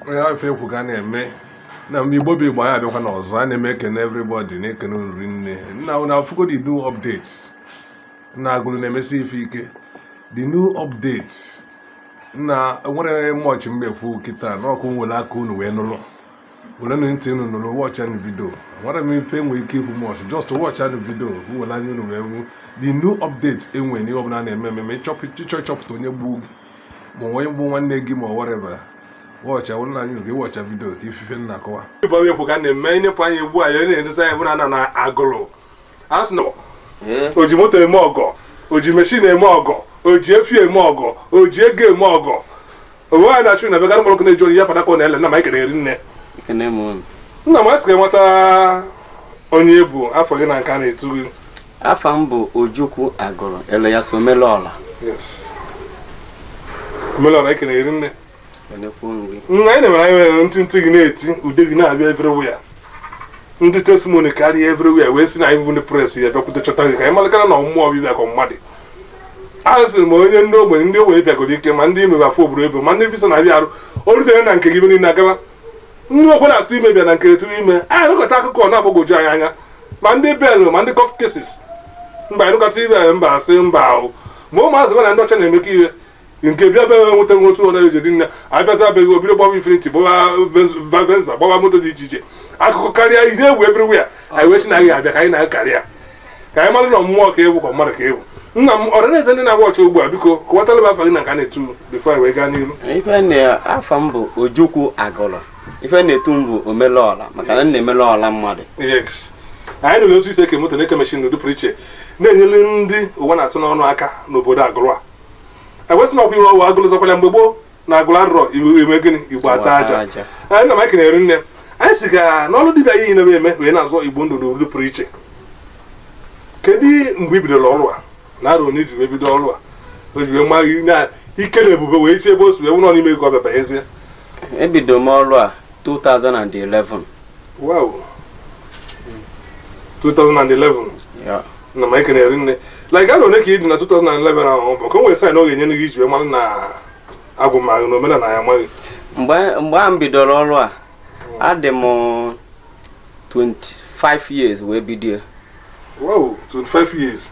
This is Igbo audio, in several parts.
onye ife ekwu ka a na-eme na mgbe igbo bụ igbo anyị abịakwanụ ọzọ ana m ekene everybody na-ekene unu rinne na na afụgo the new updates na agụlụ na-emesi ife ike the new updates na enwerọ much m ya-ekwu kịta ka unu were aka unu wee nụrụ were nụ ntị unu nụrụ watchaa video enwerọ m ife m nwe ike ikwu much just watchaa video were anya unu wee fụ the new updates e nwere n'ihe ọbụla na-eme eme ma ịchọpụta onye gbuo gị ma onye gbuo nwanne gị ma whatever watchaa wụrụ na anyị nke watchaa video ka ị fụ ife m na-akọwa ife ekwu ka a na-eme ịnyepụ anyị egbu anyị onye na-edosa anyị bụrụ na na agụlụ a sị na o ji moto eme ọgọ o ji meshin eme ọgọ o ji efi eme ọgọ o ji ego eme ọgọ onwe anyị na-achụ na begara mgbọrọkụ na-eji ori ya padaka ọ na-ele nna m anyị ekene gị rinne nna m asị ka ị kọwata onye ị bụ afa gị na nke a na-etu gị afa m bụ ojukwu agụlụ alias omelọla omelọla ekene gị rinne nna anyị na-emere anyị nwere ntị ntị gị na-eti ude gị na-abịa everywhere ndị testimony karịa everywhere wee sị na anyị bụ ndị press ya bịakwute chọta gị ka anyị malụkwa na ọ mmụọ ọbịa bịa ka mmadụ a sịrị ma onye ndị ogbenye ndị ogbenye bịagoro ike ma ndị imebe afọ obodo oyibo ma ndị visa na-abịarọ o rutere na nke gị ife niile agala Ndị o kwerọ atụ ime bịa na nke gị tụrụ ime. Anyị anụkọta akụkọ ọ na-agbagwoju anyị anya. Ma ndị bail ma ndị court cases. Mgbe anyị nụkọta ife anyị mba asị mba ahụ. Ma ụmụazị be na ndị ọcha na-emekọ ihe. Nke bịa be nweta nwe otu ọnara eji dị nne. Abịachaa be gị o bido gbawa infiniti gbawa Benz- venza gbawa moto dị iche iche. Akụkọ karịa ị na-ewu everywhere. Anyị wee sị na anyị abịa ka anyị na gị karịa. ka anyị mara na mmụọ ka ị wụ ka mmadụ ka ị wụ nna m audience ndị na-awatch ugbu a biko kọwatara m afa gị na nke a na-etu before anyị wee gaa n'ihu ife na afa m bụ ojukwu agụlụ ife na-etu m bụ omelọla maka na m na-emelụ ọla mmadụ Yes. anyị nụrụ otu i si eke moto na-eke meshin n'ụdị pụrụ iche na-enyere ndị ụwa na-atụ n'ọnụ aka n'obodo agụlụ anyị wee sị na ọkwa ihe ọwa agụlụ zakwara mgbe gboo na agụlụ anọrọ e mee gịnị igbo ataa aja anyị nna m ekene gị rinne anyị sị ka n'ọrụ dibịa ị na-eme wee na-azọ igbo ndụ n'ụdị pụrụ iche kedu mgbe i bidoro ọrụ a ị na-arụ na iji wee bido ọrụ a o ji wee ma gị na ike na ebube wee chi ebe o si wee wụrụ n'ime ego ọ bịa banyezie ebido m ọrụ a 2011 wow 2011 yeah nna m ekene gị rinne like afọ one ka ị dị na 2011 ahụ bụ ka o nwere sign ọ ga-enye gị iji wee mara na agwụ ma gị na omenala ya ama gị mgbe mgbe a m bidoro ọrụ a adị m 25 years wee bido ya wow 25 years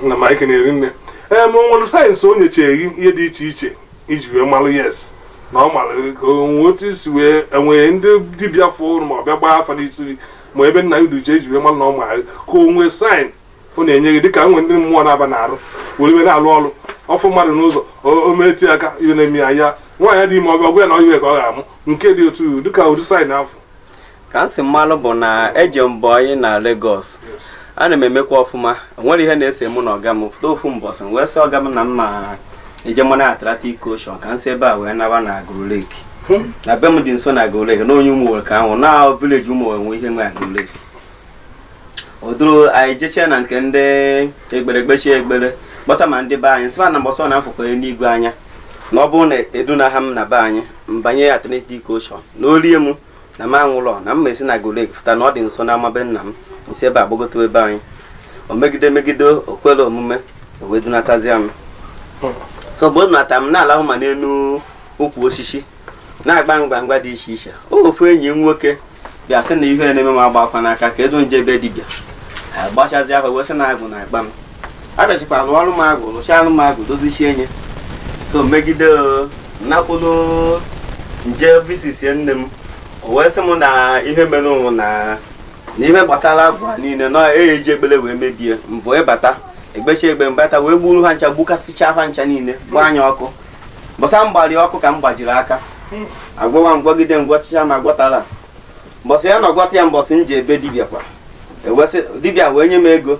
nna m ekene gị rinne ee ma o nwere signs o nyechere gị ihe dị iche iche iji wee malụ yes na ọ mara ka o nwee otu i si wee enwee ndị dibịa fụrụ ma ọ bịa gbaa afa n'isi gị ma ebe nna udu ji eji wee mara na ọ maara ka o nwee sign ọ na-enye gị dịka nwere ndị mmụọ na-aba n'arụ were wee na-alụ ọrụ ọ fụ mmadụ n'ụzọ o- o metụ ya aka ihe na-eme ya ya nwaanyị dị ime ọ bịa ọ gwa ya na ọ nwoke ka ọ ga-amụ nke dị otu iwu dịka ụdị sign afụ ka m si malụ bụ na eje m boyi na Lagos ana m emekwa ọfụma o nwere ihe na-ese mụ na ọga m fụta ofu mbọsị m wee sị ọga m na m ma-eje maa na Atlantic Ocean ka m si ebe a wee naba na Agulu Lake na be m dị nso na Agulu Lake na onye Ụmụowelle ka m bụ na village Ụmụowelle nwe ihe nwe Agulu Lake o duru anyị jechee na nke ndị ekpere kpechie ekpere kpọta ma ndị be anyị sịba na mbọsọ na m fụkwanye n'igwe anya na ọ bụrụ na edunaha m na be anyị m banye Atlantic Ocean na o rie m na m anwụlọ na m ma-esi na Agulu Lake fụta na ọ dị nso n'ama be nna m m si ebe a gbagotewa be anyị o megide megide o kwerọ omume o wee dunatazia m so mgbe o dunata m na-alahụ ma n'elu ukwu osisi na-agba ngwa ngwa dị iche iche ofu enyi m nwoke bịa sị na ihe na-eme m agbakwa n'aka ka e du m je be dibịa a gbachazia aha wee sị na Agwụ na-akpa m a bịachikwa lụọrụ m agwụ lụchaalụ m agwụ dozichie nye so megide o, nakwụlụ m je visitie nne m o wee sị m na ihe e merụ mụ na na ihe gbasara agwụ a niile na eyi eji ekpere wee mebie mbụ ịbata ekpechie ekpere m bata wee gburu ha ncha gbukasịcha ha ncha niile gbanye ya ọkụ mbọsị a m gbalị ya ọkụ ka m gbajiri aka agwọwa m gwọgide m gwọchicha ma agwọtarọ mbọsị ya na ọ gwọta ya mbọsị m je be dibịa kwa ewesị dibịa wee nye m ego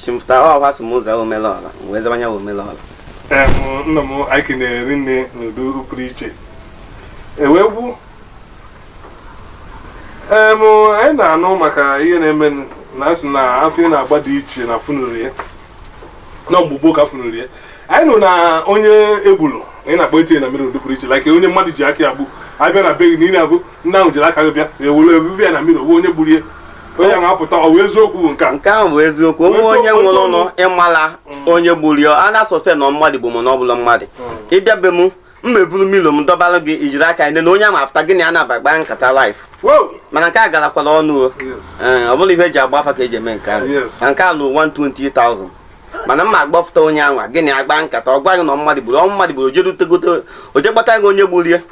chi m fụta ọha sị mụ zaa Omelọra m wee zaba ya Omelọra Em, nna m anyị kenee gị rinne n'ụdị pụrụ iche ewegwu em anyị na-anụ maka ihe na-eme na a sị na afa ị na-agba dị iche na funuru ya na mgbe gboo ka funuru ya anyị nụ na onye e gburu ị na-akpọtinye na mirror n'ụdị pụrụ iche like onye mmadụ ji aka ya gbu abịa na be gị na ị na-abụ Nna ahụ jiri aka gị bịa e were ebube ya na mirror o nwee onye gburu ya onye ahụ apụta ọ bụ eziokwu bụ nke a nke ahụ bụ eziokwu o nwee onye nwụrụ ụlọ ịmala mm. onye gburu ya a na-asuspect na mmadụ bụ m na ọ bụla mmadụ mm. ị bịa be m m evuru mirror m dọbara gị i jiri aka nene onye a ma-afụta gị na ya na-aba kpaa nkata live mana nke a garakwara ọnụ o eh, ọ bụrọ ihe eji agba afa ka eji eme nke ahụ na nke a lụ 120,000 mana m ma-akpọfụta onye ahụ gị na ya akpaa nkata ọ gwa gị na mmadụ gburu ọ mmadụ gburu oje gị onye gburu ya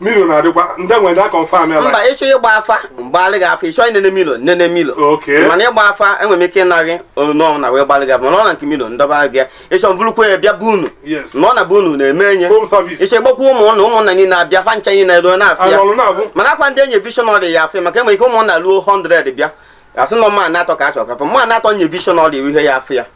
mirror na-adịkwa ndị nwere na confirm ya mba ịchọ ịgba afa m gbalị gị afa ịchọ ịnene mirror nene mirror Okay. mana ịgba afa enwere m ike ịnụ gị onu na wee gbalị gị afa mana ọ na nke mirror m dọba gị ya ịchọ m burukwa ya bịa be unu Yes. na ọ na be unu na-eme enye home service ịchọ ịkpọkwa ụmụnna ụmụnna niile abịa fa ncha niile nọrọ na-afụ ya nọlọ na-afụ mana ọ kwa ndị e nye visionary ya-afụ ya maka enwere ike ụmụnna ruo 100 bịa a sị na mmadụ atọ ka a chọrọ ka fa mmadụ atọ nye visionary iwu ihe ya-afụ ya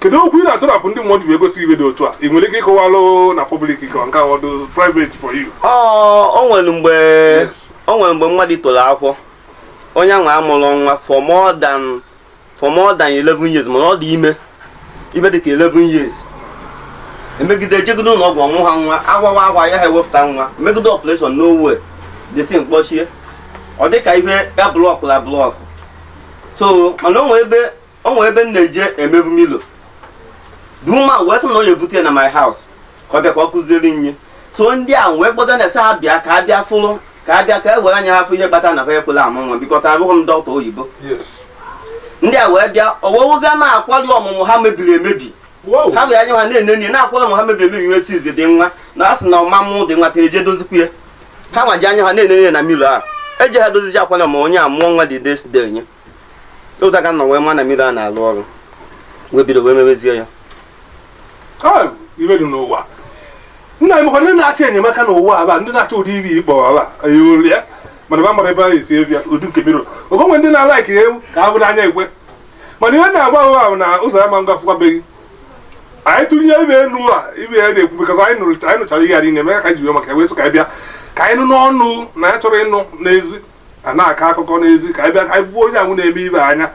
kedu okwu ị na-atụrapụ ndị mmụọ ji wee gosi ive dị otu a ị nwere ike ịkọwalụ na public ka nke ọ dụ private for you ọ o nwere mgbe Yes. o nwere mgbe mmadụ toro afọ onye ahụ amụrọ nwa for more than for more than 11 years mana ọ dị ime ihe dịka 11 years emegide ejegide ụlọ ọgwụ ọ mụha nwa agwawa agwa ya ha ewepụta nwa megide operation n'owe the thing kpọchie ọ dịka ihe ya blọkụ la blọkụ so mana o nwere ebe o nwere ebe m na-eje emebu mirror the woman wee sị na ọ ya ebute ya na my house ka ọ bịa ka ọ kụziere nye so ndị a wee kpọta nurse ha bịa ka a bịa fụrụ ka a bịa ka e were anya ha fụ ihe kpata na ha ekwela amụ nwa because abụghị m dọkịta oyibo ndị a wee bịa o wee fụzie na akwali ọmụmụ ha mebiri emebi ha were anya ha na-ene nri na akwali ọmụmụ ha mebiri emebi m wee sịzị ndị nwa na a sị na ọ ma-amụ dị nwa tere je dozikwu ya ha nwa ji anya ha na-ene nri na mirror a eji ha dozizi akwali ọmụmụ onye a mụọ nwa dị desde nye ụta ka nọ wee ma na mirror a na-alụ ọrụ wee bido wee mewezie ya ive dị n'ụwa nna emekwa ndị na-achọ enyemaka n'ụwa aba ndị na-achọ ụdị ive ị kpọ ava olu ya mana va amarọ ebe a esi abịa ụdị nke mirror ogonwe ndị na-alaiki ewu ka a vụrụ n'anya ekwe mana ihe na-agba ahụ ahụ na ụzọ ya ma ngafụkwabeghị anyị tụnye ibe enu a ive ya na-ekwu bikọs anyị nụchara ihe a niile mee ka anyị ji wee maka wee sị ka anyị bịa ka anyị nụ n'ọnụ na anyị achọrọ ịnụ n'ezi a na-akọ akụkọ n'ezi ka anyị bịa ka anyị vụ onye ahụ na-eme ive anya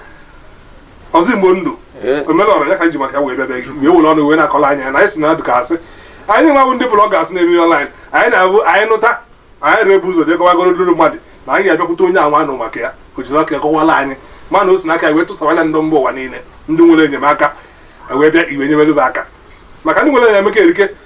Ọzọ Igbo ndụ Ee. omenala ya ka anyị ji maka ya wee bịa be gị wee were ọnụ wee na-akọla anyị ya na anyị si na ọ dụ ka asị anyị nwa bụ ndị bloggers na-eme ọnlaịn anyị na-abụ anyị nụta anyị na-ebu ụzọ jee kọwagoro ndị mmadụ na anyị ga-abịakwute onye anwa nụ maka ya o jiri aka ya kọwala anyị mana o si n'aka ya wee tụsawala ndị mba ụwa niile ndị nwere enyemaka anyị wee bịa ị wee nyebere ve aka maka ndị nwere enyemaka erike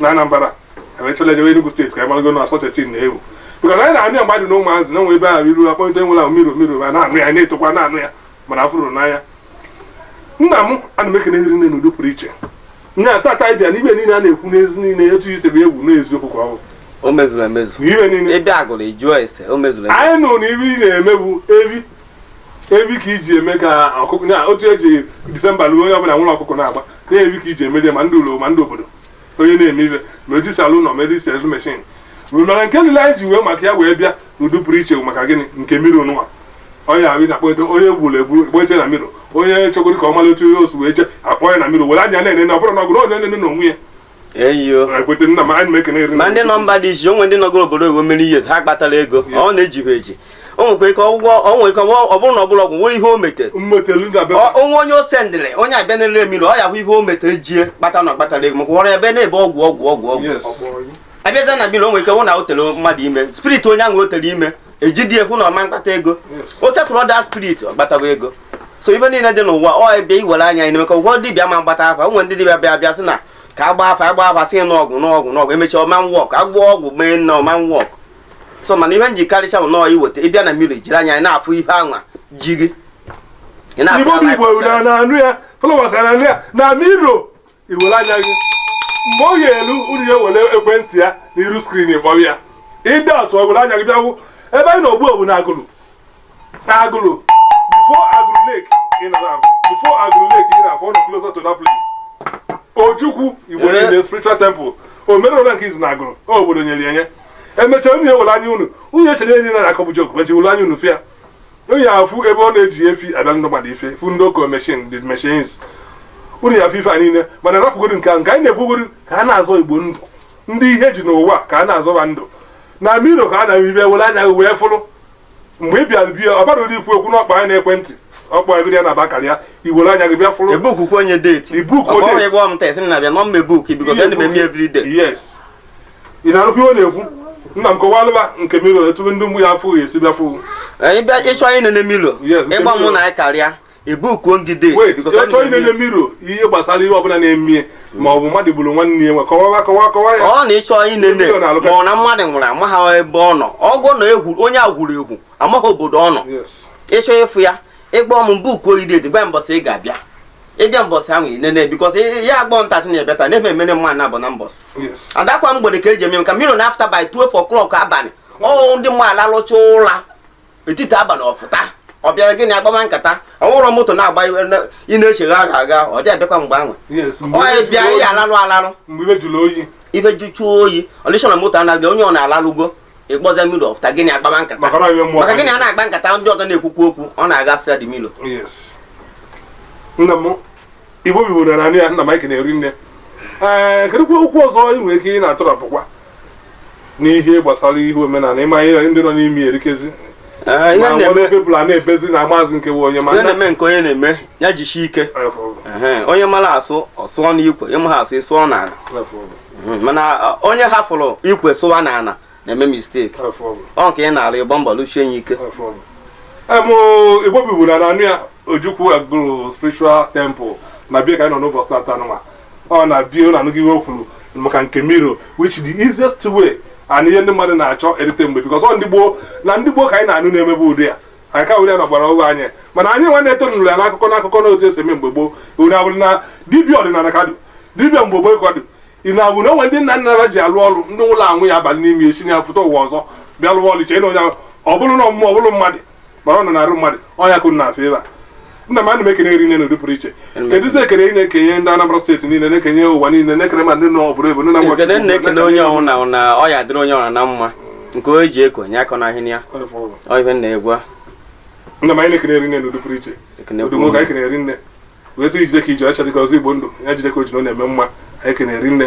na Anambra emechala ejewe Enugu steeti ka anyị marago na such a thing na-ewu bikọz anyị na-anụ ya ma m dụ na ụmụazị na o nwe ebe ahụ iru akpọnite onye ahụ mirror mirror ma na-anụ ya na-etokwa na-anụ ya mana afụrọ n'anya nna m ana m ekene ị rinne n'ụdị pụrụ iche nye a tata anyị bịa n'ive niile a na-ekwu n'ezi niile etu isi bụ egwu n'eziokwu ka ọ bụ o mezuru emezu na ive niile ebe agụrụ ejụọ ese o mezuru emezu anyị nụrụ na ive ị na-eme bụ evi evi ka iji eme ka ọkụkọ na otu eji disemba ruo onye ọbụla ewere ọkụkọ na-agba na evi ka iji emeri ya ma ndị ụlọ ma ndị obodo onye na-eme ibe ma eji saloon ma eji sewing machine mana nke niile anyị ji wee maka ya wee bịa n'ụdị pụrụ iche bụ maka gịnị nke mirror nụnwa onye ahụ na-akpọta onye gburu egbu kpọte na mirror onye chọgoro ka ọ mara otu ihe o si wee jee akpọ ya na mirror were anya na-ene na ọ bụrụ na ọ gụrụ onye na-ene n'onwe ya ị wee kwete nna m anyị na-ekene eri ma ndị nọ mba dị iche o nwe ndị nọgoro obodo oyibo mere ihe ha akpatarọ ego ọ na-eji ha eji o nwekwa ike ọgwụgwọ o nwere ike ọ bụrụ na ọ bụrọ ọgwụ nwere ihe o metere mmetelu na be Ọ- o nwe onye o sendịrị onye abịa nene mirror ọ ya hụ ihe o metere jie kpata na ọ kpatarọ ego maka ọrịa ebe na-ebe ọgwụ ọgwụ ọgwụ ọgwụ yes a bịazie na mirror o nwere ike hụ na o tere mmadụ ime spirit onye ahụ o tere ime ejidie hụ na ọ ma-akpata ego o setụlụọ that spirit ọ kpatawa ego so ife niile dị n'ụwa ọ bịa iwere anya anyị maka ụgwọ dibịa ma mgbata afa o nwere ndị dibịa bịa bịa sị na ka agba afa agba afa sị nụ ọgwụ n'ọgwụ n'ọgwụ emechi ọma nwọk agwọ ọgwụ mee nna ọma nwọk so mana ihe nji karịcha bụ nọọ iweta ị bịa na miro jiri anya anyị na-afụ ihe anwa ji gị Ị na-afụ Igbo bụ anwa Igbo na-anụ ya followers na-anụ ya na miro iwere anya gị mgbe ọ ya-elu unu ya were ekwentị ya na iru skrin kpọrọ ya ịdị atụ ọ were anya gị bịa fụ ebe anyị na-ogbu ogbu na Agụlụ na Agụlụ before Agụlụ Lake ị nọ na before Agụlụ Lake ị na-afụ ọ nọ closer to that place Ojukwu Igbo Eh. niile spiritual temple o mere ụlọ nke izu na Agụlụ o obodo nyere ya nye emechaa unu ya were anya unu unu echere ihe anyị na-akọ bụ joke mechaa were anya unu fụ ya Unu ya afụ ebe ọ na-eji efi abịa ndị mmadụ ife fụ ndị oke meshin the machines unu ya afụ ife a niile mana rapụgodu nke ahụ nke anyị na-ekwugodu ka a na-azọ igbo ndụ ndị ihe ji n'ụwa ka a na-azọba ndụ na miro ka a na-eme ife were anya gị wee fụrụ mgbe ị bịara be ya ọ bara ụdị ikwu okwu n'ọkpa anyị n'ekwentị ọkpa anyị ya na bakara ya iwere anya gị bịa fụrụ e bukuo ngị date. Ebook Ọ bụ date. onye gwa m tes na-abịa nọmba ebook biko gịnị ma eme everyday. yes ị na-anụkwa ihe ọ na-ekwu nna m kọwalụba nke milo etu ndị mgbe ya afụghị esi bịa fụ anyị bịa ị chọọ inene milo Yes, nke ị kpọọ mụ Milo. na anyị karịa e bukuo ngị date ị chọọ inene miro ihe gbasara ihe ọbụla na-eme ma ọ bụ mmadụ gburu nwanne ya nwe kọwawa kọwa kọwa ya ọ na ị chọọ inene Milo na-alụka. ma ọ na mmadụ nwụrụ amaghị ebe ọ nọ ọgwụ na egwu onye e gburu egbu amaghị obodo ọ nọ Yes. ị chọọ ịfụ ya ị kpọọ m bukuo ngị date gwa mbọsị ị ga-abịa ị bịa mbọsị ahụ i nene because ya agbọ ntasị na-ebịa taa na-eme emene mma na abụ na mbọsị adakwa mgbede ka e ji eme nke milo na after by 12 o'clock abalị ọ ndị mmadụ alalụcha ụra etiti abalị ọ fụta ọ bịara gị na ya akpama nkata ọ wụrọ moto na-agba ị na-echegha agha agha ọ dị abịakwa mgbe ahụ onye bịa ya alalụ alalụ ife jụchaa oyi ọdịshọ na moto anaghị onye ọbụna alalụgo ị kpọsa milo ọ fụta gị na ya akpama nkata maka gị na ya na-akpa nkata ndị ọzọ na-ekwukwu okwu ọ na-aga sịa dị milo Igbo bibu na nanị ya nna m ekene ri nne ee kedụkwa okwu ọzọ ị nwere ike ị na-atụrapụkwa n'ihe gbasara ihe omenala ị ma ihe ndị na-eme erikezi Ee, ihe ma nwere na-eme people a na-ebezi na maazị nke bụ onye ma ihe nna na-eme nke onye na-eme ya jisie ike Ehe, onye mara asụ ọ sụọ n'ikwe ị maghị asụ ị sụọ n'ala Ehe, mana ọ, onye hafụrụ ikwe sụwa n'ala na-eme mistake ọ nke ị na-arụ ị gba mbọ lụchie ya ike Igbo bibu na nanụ ya Ojukwu Agụlụ spiritual temple na be ya ka anyị nọ n'ụbọchị tata nwa ọ na be ya na anụghị ihe o kwuru maka nke miro which the easiest way and ihe ndị mmadụ na-achọ erite mgbe because ọ ndị gboo na ndị gboo ka anyị na-anụ na-emebe ụdị ya anyị ka were ya na gbara ụgwọ anyị mana anyị nwa na-eto nụrụ ya n'akụkọ n'akụkọ na otu e si eme mgbe gboo ure abụrụ na dibịa ọdịnala ka dụ dibịa mgbe gboo ka dụ ị na-abụ na o nwe ndị nna nna ha ji alụ ọrụ ndị nwụrụ anwụ ya abalị n'ime esi ya pụta ụwa ọzọ bịa lụwa ọrụ chee na onye ọ bụrụ na ọmụmụ ọ bụrụ mmadụ mara ọ nọ na-arụ mmadụ ọnya kụrụ na afọ ebe a nna m ana m ekene rinne n'ụdị pụrụ iche kedụzi ekene ị na-ekenye ndị Anambra steeti niile na-ekenye ụwa niile na-ekene ma ndị nọ obodo oyibo ndị na Ekene na-ekene onye ọbụna na ọ ya-adịrị onye ọbụna mma nke o ji ekonye aka n'ahịa ya ọ ihe na-egwu a nna m anyị na-ekene rinne n'ụdị pụrụ iche ekene odu nwoke anyị kene rinne wee sị gị jide ka i ji ọcha dịka Ọzọ Igbo Ndụ ya jide ka o ji na ọ na-eme mma anyị kene rinne